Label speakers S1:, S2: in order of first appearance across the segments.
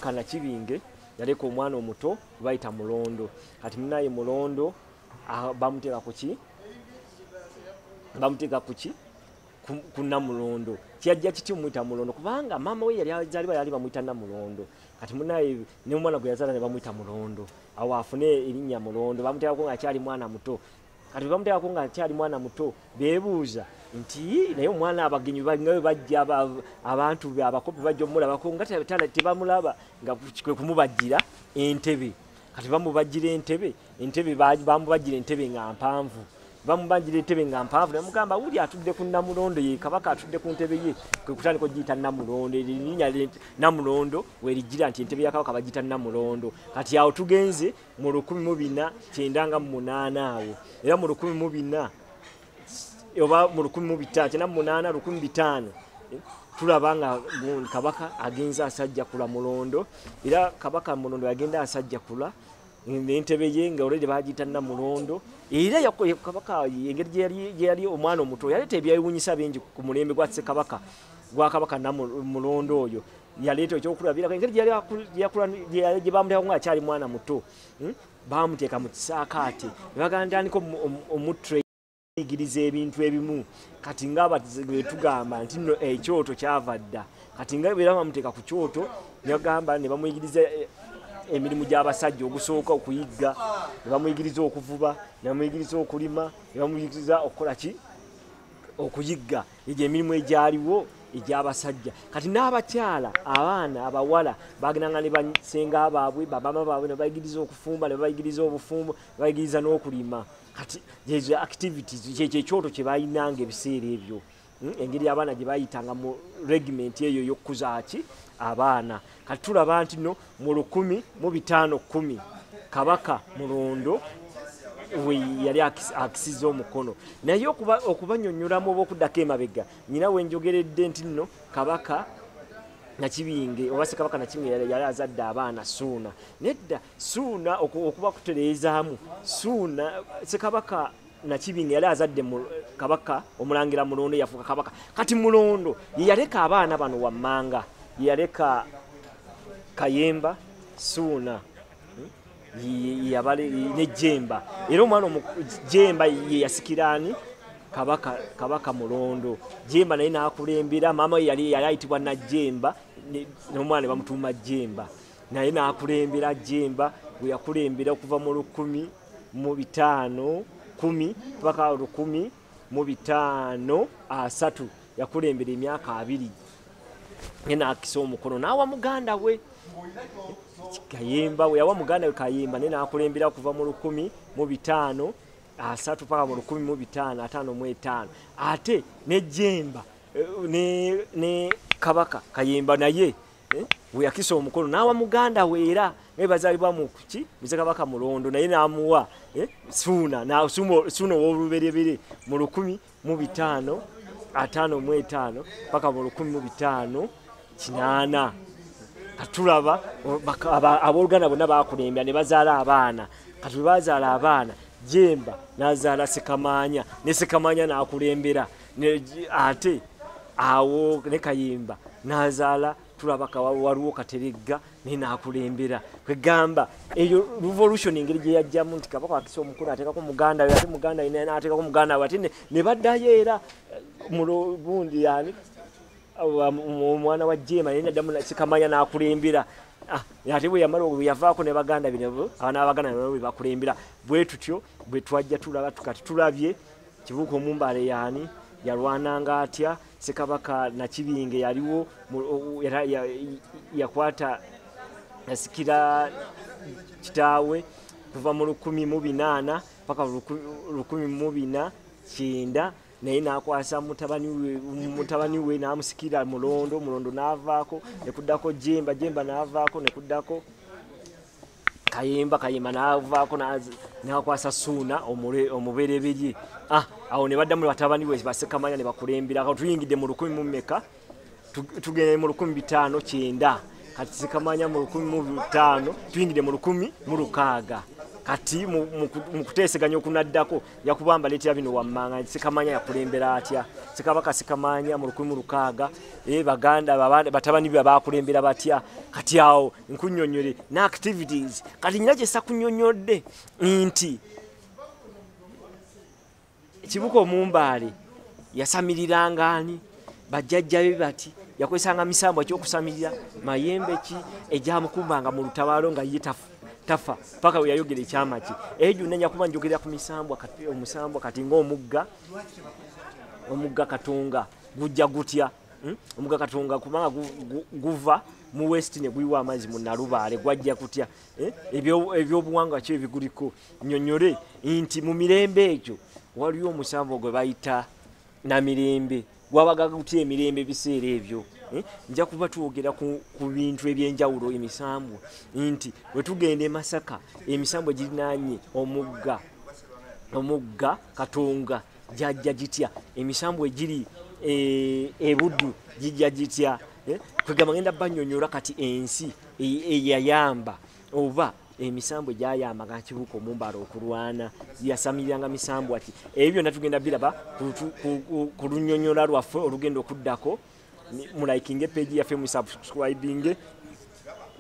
S1: kana kibinge yaleka omwana omuto bayita mulondo kati munaye mulondo ah, bamuteeka kuki bamuteeka kuki kunamulondo kyajja kiti omuyita mulondo kubanga maama we yali azaliba yali bamuyita namulondo kati munaye nomwana gwe yazala ne bamuyita mulondo awo afune erinnya mulondo bamuteekako nga akyali mwana muto kati webamuteekako nga akyali mwana muto bebuuza nti naye omwana abagenyi nga webajja abantu be abakopi bajja omulabako nga tebamulaba nga kwekumubajjira entebe kati bamubajjira entebe entebe bamubajjira entebe nga mpanvu bamubajjira entebe nga mpanvu nemugamba wuli atudde ku namulondo ye kabaka atudde ku ntebe ye kwekutandika ogiyita namulondo erinya namulondo weriggira nti entebe ya kabaka bagiyita namulondo kati awo tugenze mu lukumi mu bina kyenda nga mu munaana awo era mu lukumi mu bina oba mu lukumi mu bitaano kyenda mu munaana lukumi bitaano tulaba nga kabaka agenza asajja kula mulondo era kabaka mulondo yagenda asajja kula nentebe ye nga olede bagiyita namulondo era kabaka engeri gyeyali omwana omuto yaleeta ebyewunyisa bingi ku mulembe gwa ssekabaka gwakabaka namulondo oyo yaleeta ekyokulabirako engeri gye bamulekako nga akyali mwana muto hmm? bamuteeka mu kisaakaate ne bagandandika omutre igiriza ebintu ebimu kati ngaabetugamba nti no ekyoto eh, kyava dda kati nga era bamuteeka ku kyoto negamba ne bamuyigiriza eh, emirimu gy'abasajja ogusooka okuyigga ne bamuyigiriza okuvuba ne bamuyigiriza okulima ne bamuyigiriza okukola ki okuyigga egyo emirimu egyaliwo egyabasajja kati n'abakyala abaana abawala bagendanga ne basenga baabwe babama baabwe nebayigiriza okufumba nebayigiriza obufumbo nebayigiriza n'okulima kati ezo activities kyekyo ekyoto kye balinanga ebiseera ebyo hmm? engeri abaana gye bayitanga mu regiment eyo ey'okukuzaaki abaana kati tulaba nti no mu lukumi mu bitaano kumi kabaka mulondo yali akisiza omukono naye okubanyonyolamu oba okuddako emabega nyina wenjogeredde nti nno kabaka nakibinge oba sekabaka nakibinge yali azadde abaana suuna nedda suuna okuba kutereezaamu suuna sekabaka nakibinga yali azadde kabaka omulangira mulondo yafuuka kabaka kati mulondo yeyaleka abaana bano wammanga yeyaleka kayemba suuna hmm, nejemba era omwana jemba yeyasikiraani kabaka kabaka mulondo jemba naye nakulembera maama yali ayitibwa najemba nomwana bamutuuma jemba naye n'akulembera jemba gwe yakulembera okuva mu lukumi mu bitaano kumi paka lukumi mu bitaano asatu yakulembera emyaka abiri naye n'akisa omukono n'awa muganda we kayemba weyawa muganda we kayemba naye n'akulembera okuva mu lukumi mu bitaano asatu paka mu lukumi mu bitaano ataano mu etaano ate ne jemba eh, ne kabaka kayemba naye eh, weyakisa omukono n'awa muganda we era naye bazaalibwa mu kuki muze kabaka mulondo naye n'amuwa eh, suuna suuna ow'oluberebere mu lukumi mu bitaano ataano mu etaano paka mu lukumi mu bitaano kinaana katulaba abooluganda bonna bakulembera ne bazaala abaana kati bwe bazaala abaana jemba nazaala sekamaanya ne sekamaanya n'akulembera ate awo ne kayimba nazaala tulaba waliwo kateregga naye nakulembera kwegamba eyo revolution engeri gye yajjamu nti kabaka wakisa omukulu ateekako muganda we ate muganda we nateekako muganda we ate ne baddayo era eh, mulobundi yani omwana wa jema naye naddamu sikamanya nakulembera Ah, ate bwe yamala bwe yavaako ne baganda bino abaana babaganda bino bwe bakulembera bwe tutyo bwe twajja tulaba tukati tulabye Kibuuka Omumbaale yaani? Yalwananga atya? Ssekabaka Nakibinge yaliwo yakwata yasikira kitaawe kuva mu lukumi mu binaana paka lukumi mu bina kyenda naye nakwasa mutabani we namusikira mulondo mulondo navaako nekuddako jemba jemba navaako nekuddako kayemba kayemba navaako nakwasa suuna omubereberye ah, awo nebaddamu batabani we basekamanya nebakulembera ka tuyingidde mu lukumi mu meka tugende mu lukumi bitaano kyenda kati sekamanya mu lukumi mu bitaano tuyingidde mu lukumi mu lukaaga kati mukuteeseganya okunaddako yakubamba leetera bino wammanga sekamanya yakulembera atya sekabaka sekamanya mu lukumi mu lukaaga eh, baganda batabani be bakulembera batya kati awo nkunyonyole ne activities kati nyina kyesa kunyonyodde nti kibuka omumbaale yasamiriranga ani bajjajjabe bati yakozesanga misambwa kyokusamirira mayembe ki egyamukumbanga mu lutabaalo nga ye tafa paka weyayogera ekyama ki eyo gyonna nyakuba njogerera ku misambwa omusambwa kati ngaomugga omugga katonga gujja gutya Hmm? omuga katonga kubanga guva mu west ne guyiwa amazzi mu nalubaale gwajja kutya eh? ebyobuwangwa kyo ebiguliko nyonyole nti mu mirembe egyo waliwo omusanvu gwe bayita na mirembe gwabaga gutya emirembe ebiseera ebyo eh? nja kuba twogera ku bintu ebyenjawulo emisambwa nti wetugenda emasaka emisambwa girinanye omugga omugga katonga gyajja gitya emisambwa egiri eh, ebuddu gijja gitya eh, kwegamba ngenda banyonyola kati ensi eyayamba oba emisambwa egyayamba nga kibuuka omumbala okulwana yasamiriranga misambwa ti ebyo byonna tugenda biraba ku lunyonyola lwaffe olugenda okuddako mulaikinge peegi yaffe musubscribinge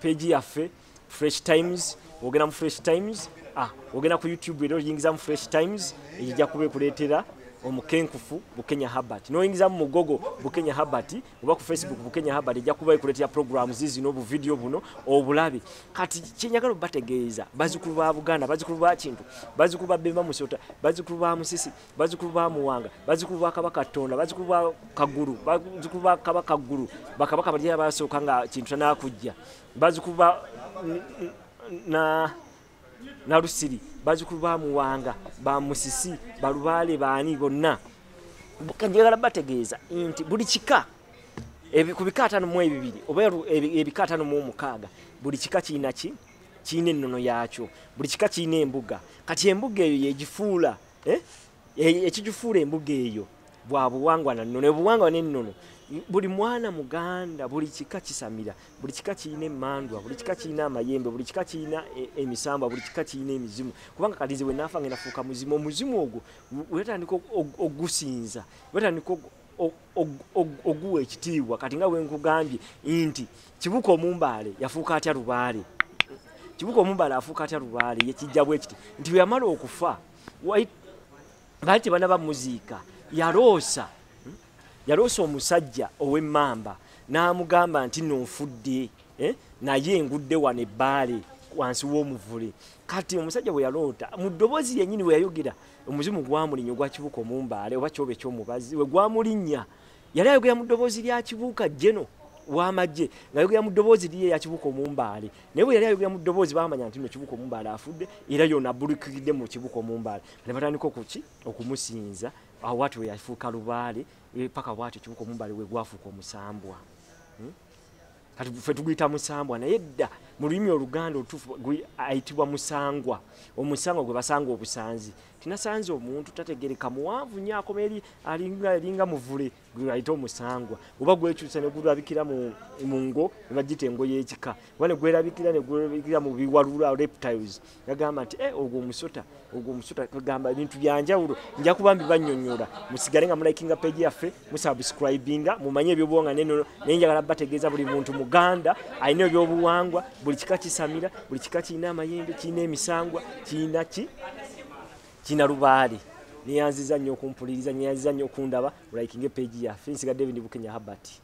S1: peegi yaffe fresh times ogenda mu fresh times ah, ogenda ku youtube era oyingiza mu fresh times ejija kuba ekuleetera omukenkufu bukenya habert noyingiza mu mugogo bukenya habert oba ku facebook bukenya habert ejja kuba ekuleetera programu zizino obuvidiyo buno obulabe kati kyenyagala obategeeza bazikulu ba buganda bazikulu ba kintu bazikulu ba bemba musota bazikulu ba musisi bazikulu ba muwanga bazikulu ba kabaka tonda bazikulu ba kagulu bazikulu ba kabaka ggulu bakabaka baliyabasooka nga kintu tanakujja bazikuba na na lusiri bazikulu ba muwanga ba musisi balubaale baani bonna njagala bategeeza nti buli kika ku bika atano mu ebibiri oba ebika atano mu omukaaga buli kika kirina ki kirina ennono yaakyo buli kika kirina embuga kati embuga eyo yegifuula eh? ekigifuula embuga eyo bwa buwangwa na nnono obuwangwa n'ennono buli mwana muganda buli kika kisamira buli kika kirina emandwa buli kika kirina amayembe buli kika kirina e, emisambwa buli kika kirina emizimu kubanga kalizi bwe naafa nga nafuuka muzimu omuzimu ogwo wetandika ogusinza wetandika oguwa ekitiibwa kati nga wenkugambye nti kibuka omumbaale yafuuka atya lubaale kibuka omumbaale afuuka atya lubaale yekijja bwekiti nti bweyamala okufa baali tebana bamuziika yaloosa hmm? yaloosa omusajja ow'emmamba n'amugamba nti nonfudde eh? naye engudde wano ebbaale wansi w'omuvule kati omusajja bwe yaloota mu ddoboozi yennyini bwe yayogera omuzimu gwamulinnya ogwakibuka omumbaale oba kyoba ekyomubazi we gwamulinnya yali ayogera mu ddoboozi lya kibuuka jeno wamagye ngayogera mu ddoboozi liye yakibuka omumbaale naye bwe yali ayogera mu ddoboozi bamanya nti no kibuka omumbaale afudde era yona abulikiridde mu kibuka omumbaale ne batandika okuki okumusinza awo wati we yafuuka lubaale e, paka bwati ekibuka omumbaale we gwafuuka omusambwa hmm? kati fe tuguyita musambwa naye dda mu lulimi oluganda olutuufu ayitibwa musangwa omusangwa gwe basanga obusanzi tinasanze omuntu tategereka muwanvu nyo akoma eri alinga muvule gweayite omusangwa oba gwekyusa negulabikira mu ngo nebagita engo yekika oba negwerabikira negwerabikira mu biwalula reptiles yagamba nti eh, ogwo omusota ogwo omusota kagamba ebintu byanjawulo nja kuba mbibanyonyola musigale nga mulikinga page yaffe musubscribinga mumanye ebyobuwanga nenono naye njagala bategeeza buli muntu muganda alina ebyobuwangwa buli kika kisamira buli kika kirina amayembe kirina emisangwa kirina ki kirina lubaale neyanziza nnyo okumpuliriza neyanziza nnyo okundaba mulikinga page yaffe nsiga david bukenya habati